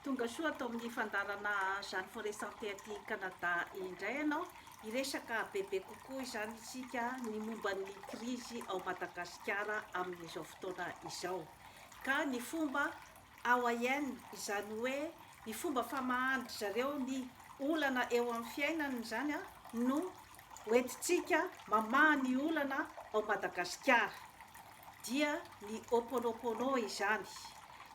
Tonga soa ato amin'ny fandaharana Jeanne Foresante aty Canada indray ianao. Hiresaka bebe kokoa izany isika ny momba ny krizy ao Madagasikara amin'izao fotoana izao. Ka ny fomba Hawaiian, izany hoe ny fomba famahan-dry zareo ny olana eo amin'ny fiainany izany no hoentintsika mamaha ny olana ao Madagasikara. dia ny Ho'oponopono izany.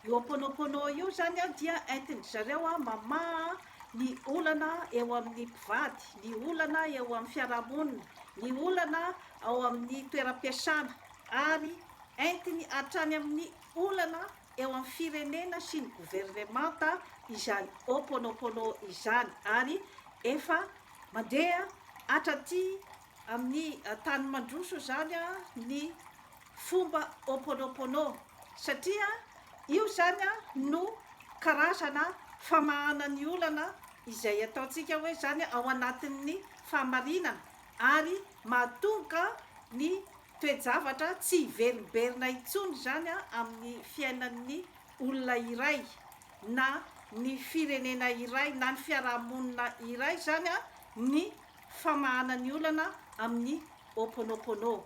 Io Ho'oponopono io zany dia entin-dry zareo mamaha ny olana eo amin'ny mpivady, ny olana eo amin'ny fiarahamonina, ny olana ao amin'ny toeram-piasana ary entiny hatrany amin'ny olana eo amin'ny firenena sy ny governemanta izany Ho'oponopono izany ary efa mandeha hatraty amin'ny tany mandroso izany ny fomba Ho'oponopono satria io izany no karazana famahana ny olana izay ataontsika hoe izany ao anatin'ny fahamarinana ary mahatonga ny toe-javatra tsy hiverimberina intsony izany amin'ny fiainan'ny olona iray na ny firenena iray na ny fiarahamonina iray izany ny famahana ny olana amin'ny Ho'oponopono.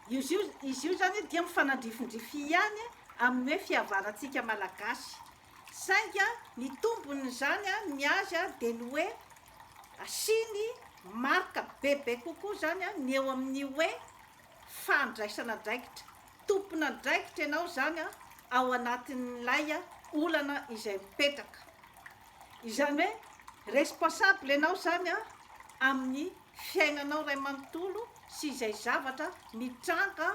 Izy io izy io zany dia mifanandrifindrify ihany amin'ny hoe fihavanantsika Malagasy. Saingy ny tombon'izany ny azy dia ny hoe asiany marika bebe kokoa zany ny eo amin'ny hoe fandraisana andraikitra. Tompon'andraikitra ianao zany ao anatin'ilay olana izay mipetraka. Izany hoe responsable ianao izany amin'ny fiainanao iray manontolo sy izay zavatra mitranga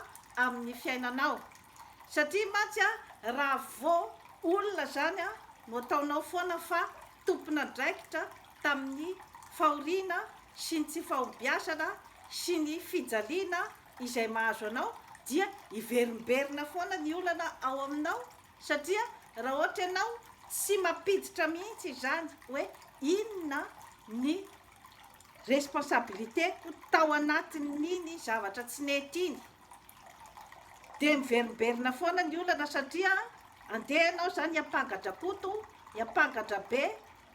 amin'ny fiainanao. Satria mantsy raha vao olona izany no ataonao foana fa tompon'andraikitra tamin'ny fahoriana sy ny tsy fahombiazana sy ny fijaliana izay mahazo anao dia hiverimberina foana ny olana ao aminao Satria raha ohatra ianao tsy mampiditra mihitsy izany hoe inona ny responsabilité-ko tao anatin'iny zavatra tsy nety iny dia miverimberina foana ny olana satria andeha ianao izany hiampanga-drakoto, hiampanga-dRabe,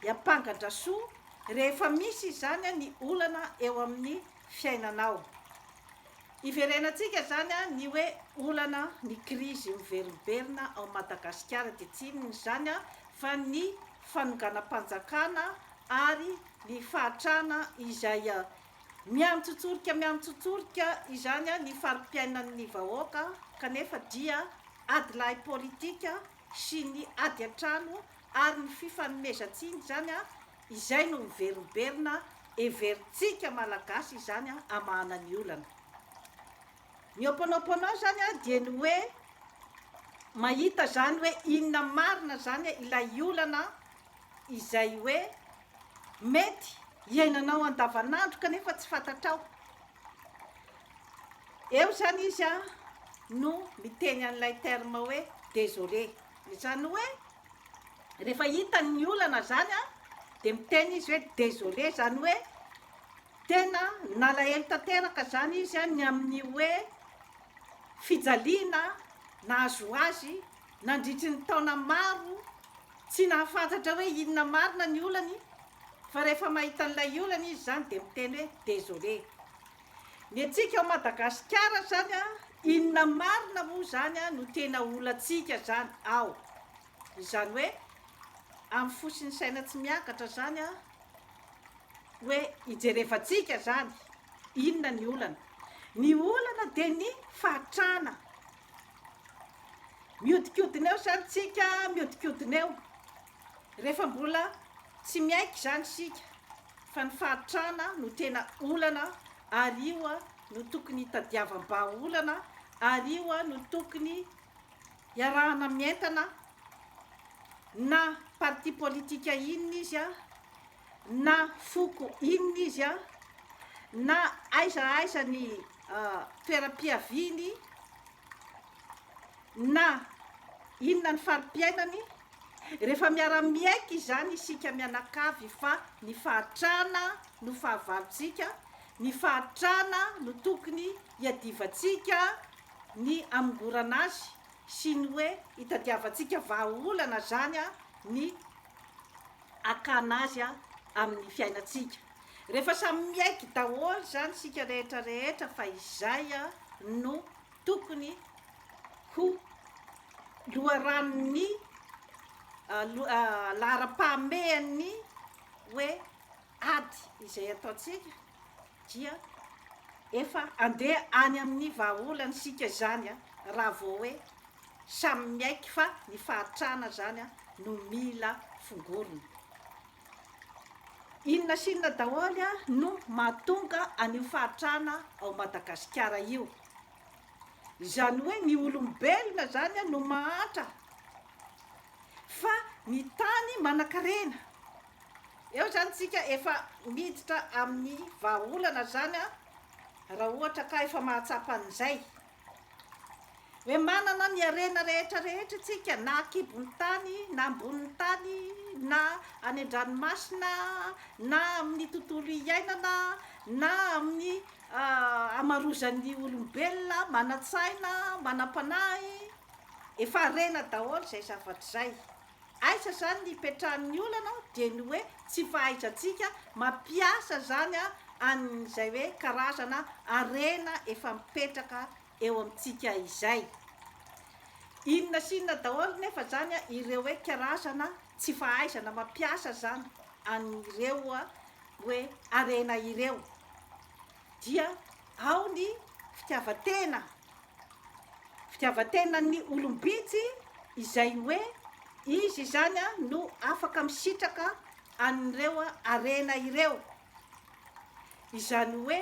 dia ampangadrasoa rehefa misy izany ny olana eo amin'ny fiainanao. Iverenantsika izany ny hoe olana, ny krizy miverimberina ao Madagasikara dia tsy inona izany fa ny fanonganam-panjakana ary ny fahatrana izay miantsotsorika miantsotsorika izany ny fari-piainan'ny vahoaka kanefa dia adilahy politika sy ny ady an-trano ary ny fifanomezantsiny izany an izay no miverimberina heverintsika malagasy izany an hamahana ny olana ny ho mpanao mpanao izany an dia ny hoe mahita izany hoe inona marina izany an ilay olana izay hoe mety hiainanao andavanandro kanefa tsy fantatrao eo izany izy an no miteny an'ilay terme hoe desolé. Izany hoe rehefa hitany ny olana zany a de miteny izy hoe désolé zany hoe tena nalahelo tanteraka zany izy a ny amin'ny hoe fijaliana nahazo azy nandritry ny taona maro tsy nahafantatra hoe inona marina ny olany fa rehefa mahita an'ilay olana izy zany de miteny hoe désolé Ny antsika ao Madagasikara zany an, inona marina moa zany an no tena olantsika zany ao? Izany hoe amin'ny fo sy ny saina tsy miakatra zany an, hoe ijerevantsika zany inona ny olana? Ny olana dia ny fahatrana. Miodikodina eo zany tsika, miodikodina eo. Rehefa mbola tsy miaiky izany isika fa ny fahantrana no tena olana ary io no tokony hitadiavam-bahaolana ary io no tokony hiarahana mientana na parti politika inona izy na foko inona izy na aiza aiza ny toeram-piaviany na inona ny fari-piainany Rehefa miara-miaiky izany isika mianakavy fa ny fahatrana no fahavalontsika, ny fahatrana no tokony hiadivantsika ny hamongorana azy sy ny hoe hitadiavantsika vahaolana izany ny hakana azy amin'ny fiainantsika. Rehefa samy miaiky daholo izany isika rehetra rehetra fa izay no Tokony ho loharanon'ny laharam-pahamehan'ny hoe ady izay ataontsika dia efa andeha any amin'ny vahaolana isika izany raha vao hoe samy miaiky fa ny fahantrana izany no mila fongorina. Inona sy inona daholo no mahatonga an'io fahatrana ao Madagasikara io. Izany hoe ny olombelona izany no mahatra fa ny tany manan-karena. Eo izany isika efa miditra amin'ny vahaolana izany raha ohatra ka efa mahatsapa an'izay. Hoe manana ny harena rehetra rehetra isika na an-kibon'ny tany na ambonin'ny tany na any an-dranomasina na amin'ny tontolo iainana na amin'ny hamarozan'ny olombelona manan-tsaina, manam-panahy, efa harena daholo izay zavatra izay. Aiza zany ny ipetrahan'ny olana dia ny hoe tsy fahaizantsika mampiasa zany an'izay hoe karazana harena efa mipetraka eo amintsika izay. Inona sy inona daholo nefa zany ireo hoe karazana tsy fahaizana mampiasa zany an'ireo hoe harena ireo. dia ao ny fitiavan-tena, fitiavan-tenan'ny olom-bitsy izay hoe izy izany no afaka misitraka an'ireo harena ireo. Izany hoe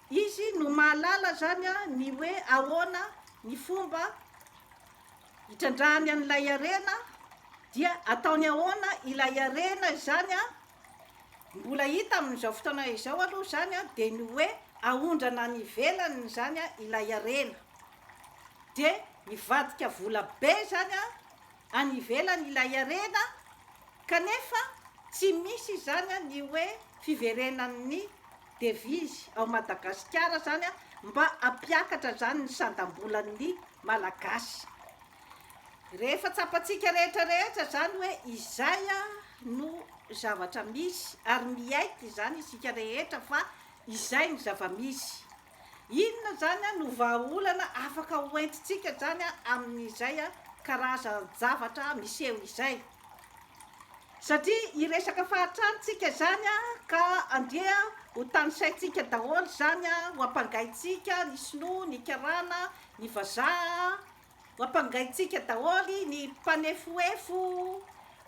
izy no mahalala izany ny hoe ahoana ny fomba hitrandrahany an'ilay harena, dia ataony ahoana ilay harena izany Mbola hita amin'izao fotoana izao aloha izany dia ny hoe aondrana any ivelany izany ilay harena. Dia mivadika vola be izany any ivelany ilay harena kanefa tsy misy izany ny hoe fiverenan'ny devizy ao Madagasikara izany mba hampiakatra izany ny sandam-bolan'ny Malagasy. Rehefa tsapantsika rehetra rehetra izany hoe izay no zavatra misy ary miaiky izany isika rehetra fa izay ny zava-misy. Inona izany no vahaolana afaka ho entintsika izany amin'izay karazan-javatra miseho izay? Satria hiresaka fahatrany isika izany ka andeha ho tanisaintsika daholo izany ho ampangaintsika ny sinoa, ny karana, ny vazaha Ampangaintsika daholo ny mpanefoefo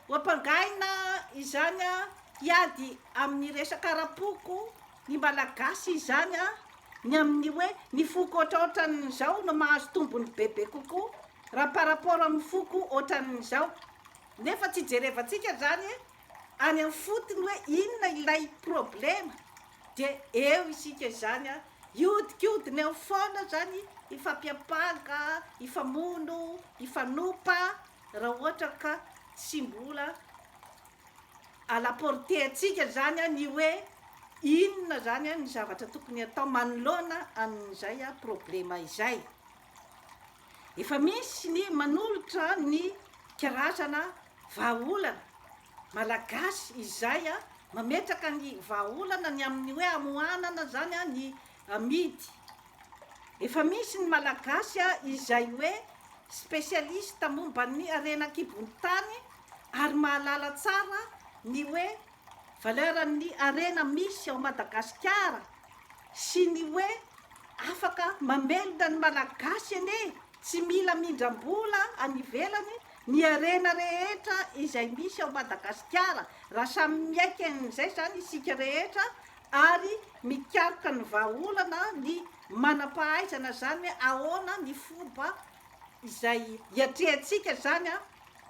ho ampangaina izany a, hiady amin'ny resaka ara-poko ny Malagasy izany a, ny amin'ny hoe ny foko ohatraohatran'izao no mahazo tombony bebe kokoa raha par rapport amin'ny foko ohatran'izao. Nefa tsy jerevantsika izany any amin'ny fotony hoe inona ilay problema. Dia eo isika izany a, hiodikodina eo foana izany hifampiampanga, hifamono, hifanompa raha ohatra ka tsy mbola à la portée antsika izany ny hoe inona izany ny zavatra tokony hatao manoloana an'izay problema izay. Efa misy ny manolotra ny karazana vahaolana. Malagasy izay mametraka ny vahaolana ny amin'ny hoe hamohanana zany ny amidy. Efa misy ny Malagasy izay hoe spécialiste momba ny harena an-kibon'ny tany ary mahalala tsara ny hoe valeur an'ny harena misy ao Madagasikara sy ny hoe afaka mamelona ny Malagasy anie tsy mila mindram-bola any ivelany Ny harena rehetra izay misy ao Madagasikara, raha samy miaiky an'izay izany isika rehetra ary mikaroka ny vahaolana ny manam-pahaizana izany hoe ahoana ny fomba izay hiatrehantsika izany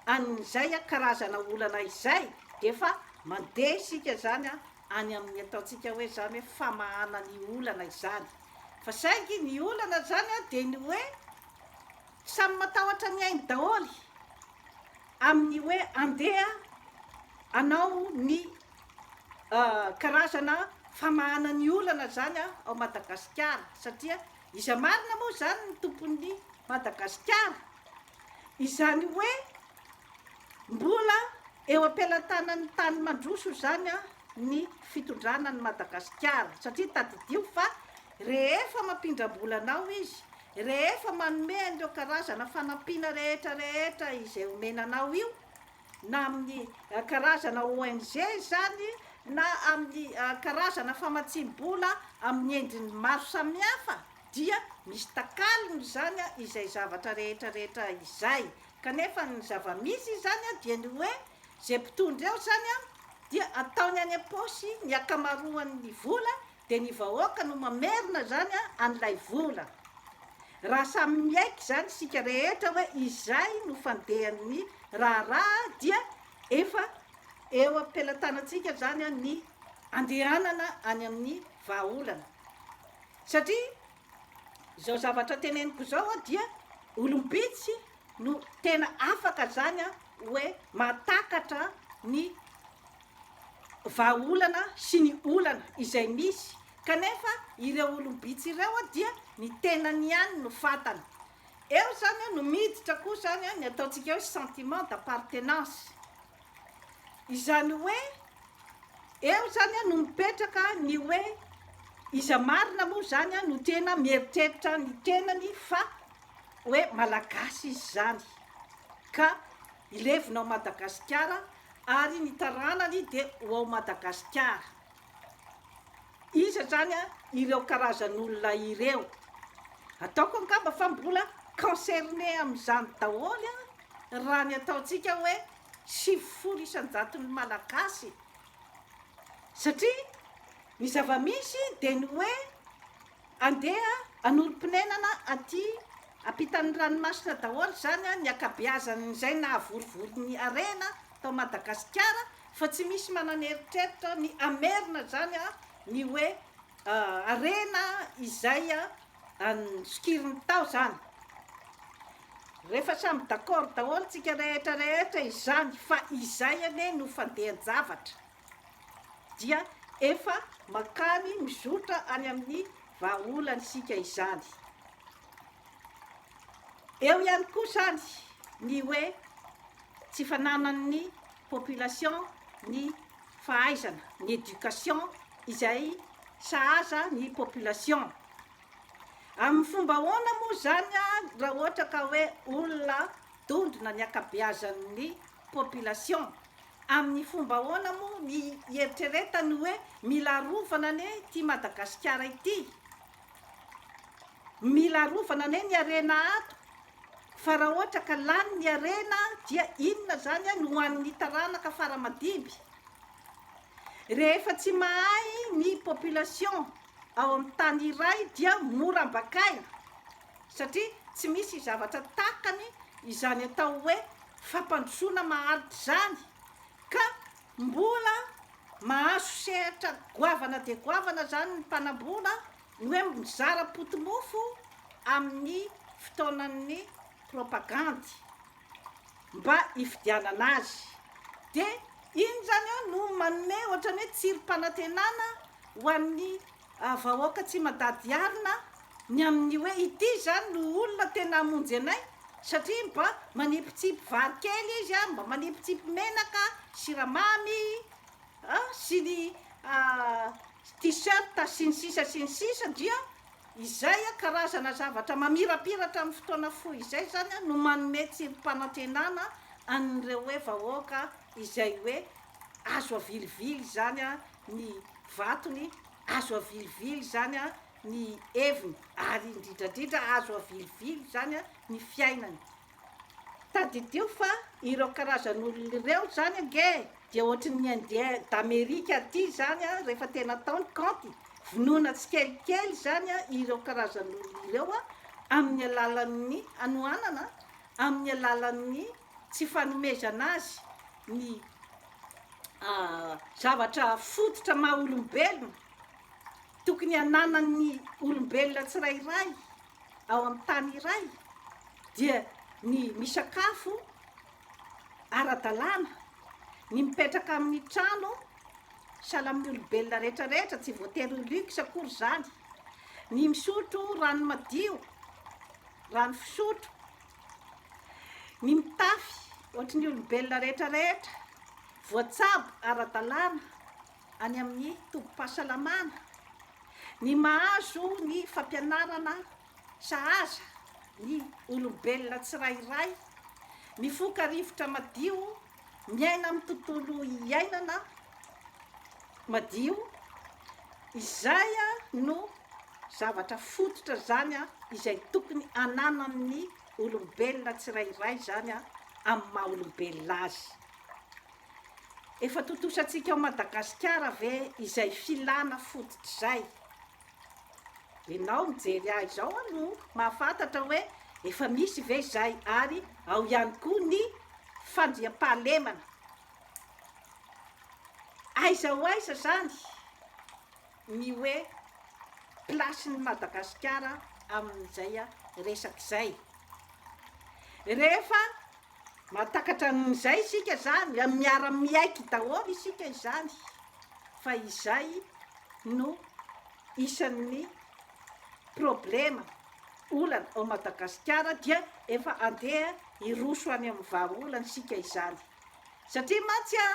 an'izay karazana olana izay dia efa mandeha isika izany any amin'ny ataontsika hoe izany hoe famahana ny olana izany. Fa saingy ny olana izany dia ny hoe Samy matahotra ny ainy daholo amin'ny hoe andeha hanao ny karazana famahana ny olana izany ao Madagasikara satria iza marina moa izany ny tompon'ny Madagasikara? Izany hoe mbola eo am-pelatanan'ny tany mandroso izany ny fitondrana an'i Madagasikara satria tadidio fa Rehefa mampindram-bola anao izy, rehefa manome an'ireo karazana fanampiana rehetra rehetra izay omena anao io, na amin'ny karazana ONG izany, na amin'ny karazana famatsiam-bola amin'ny endriny maro samihafa, dia misy takalony izany izay zavatra rehetra rehetra izay. Kanefa ny zava-misy izany dia ny hoe, izay mpitondra eo izany dia ataony any am-paosy ny ankamaroan'ny vola dia ny vahoaka no mamerina izany an'ilay vola. Raha samy miaiky izany isika rehetra hoe izay no fandehan'ny raharaha dia efa eo am-pelatanantsika izany ny andehanana any amin'ny vahaolana. Satria izao zavatra teneniko izao dia olom-bitsy no tena afaka izany hoe mahatakatra ny vahaolana sy ny olana izay misy kanefa ireo olom-bitsy ireo dia ny tenany ihany no fantany. Eo izany no miditra koa izany ny ataontsika hoe sentiment d'appartenance. Izany hoe eo izany no mipetraka ny hoe iza marina moa izany no tena mieritreritra ny tenany fa hoe malagasy izy izany ka hilevina ao Madagasikara ary ny taranany dia ho ao Madagasikara. Iza zany ireo karazan'olona ireo? Ataoko angamba fa mbola concerné amin'izany daholo raha ny ataontsika hoe sivifolo isan-jaton'ny Malagasy, satria ny zava-misy dia ny hoe, Andeha hanorim-ponenana aty ampitan'ny ranomasina daholo izany ny ankabeazan'izay nahavorovoro ny harena tao Madagasikara fa tsy misy manana eritreritra ny hamerina izany ny hoe harena izay sokiriny tao izany. Rehefa samy d'accord daholo tsika rehetra rehetra izany fa izay anie no fandehan-javatra. dia efa mankany mizotra any amin'ny vahaolana isika izany. Eo ihany koa izany ny hoe tsy fananan'ny population ny fahaizana, ny éducation izay sahaza ny population. Amin'ny fomba ahoana moa izany raha ohatra ka hoe olona dondrona ny ankabeazan'ny population Amin'ny fomba ahoana moa ny hieritreretany hoe mila arovana anie ity Madagasikara ity? Mila arovana anie ny harena ato fa raha ohatra ka lany ny harena dia inona izany no ho an'ny taranaka fara aman-dimby? Rehefa tsy mahay ny population ao amin'ny tany iray dia mora ambakaina. satria tsy misy zavatra takany izany atao hoe fampandrosoana maharitra izany ka mbola mahazo sehatra goavana dia goavana izany ny mpanambola ny hoe mizara potimofo amin'ny fotoanan'ny propagandy mba hifidianana azy dia iny izany eo no manome ohatran'ny hoe tsirim-panantenana ho an'ny vahoaka tsy madady arina ny amin'ny hoe ity izany no olona tena hamonjy anay satria mba manipitsipy vary kely izy a, mba manipitsipy menaka, siramamy a, sy ny t-shirt sy ny sisa sy ny sisa dia izay a, karazana zavatra mamirapiratra amin'ny fotoana fohy izay izany a no manome tsirim-panantenana an'ireo hoe vahoaka izay hoe azo avilivily izany a, ny vatony azo avilivily izany ny heviny ary indridradridra azo avilivily izany ny fiainany tadidio fa ireo karazan'olona ireo izany ange dia ohatry ny indien d'amerique aty izany a rehefa tena atao ny kaonty vonoina tsikelikely izany a ireo karazan'olona ireo a amin'ny alalan'ny hanohanana amin'ny alalan'ny Tsy fanomezana azy ny zavatra fototra maha olombelona tokony ananan'ny olombelona tsirairay ao amin'ny tany iray dia ny misakafo ara-dalàna, ny mipetraka amin'ny trano sahala amin'ny olombelona rehetra rehetra, tsy voatery ho luxe akory izany, ny misotro rano madio, rano fisotro, Ny mitafy ohatry ny olombelona rehetra rehetra voatsabo ara-dalàna any amin'ny tobim-pahasalamana, ny mahazo ny fampianarana sahaza ny olombelona tsirairay, mifoka rivotra madio miaina amin'ny tontolo iainana madio, izay no zavatra fototra izany izay tokony ananan'ny olombelona tsirairay izany amin'ny maha olombelona azy. Efa tontosantsika ao Madagasikara ve izay filana fototra izay? Enao mijery ahy izao aho no mahafantatra hoe efa misy ve izay ary ao ihany koa ny fandriampahalemana. Aiza ho aiza izany ny hoe place-n'i Madagasikara amin'izay resaka izay? Rehefa Mahatakatra an'izay isika izany, miara-miaiky daholo isika izany, fa izay no isan'ny problema, olana ao Madagasikara dia efa andeha hiroso any amin'ny vahaolana isika izany, satria mantsy an!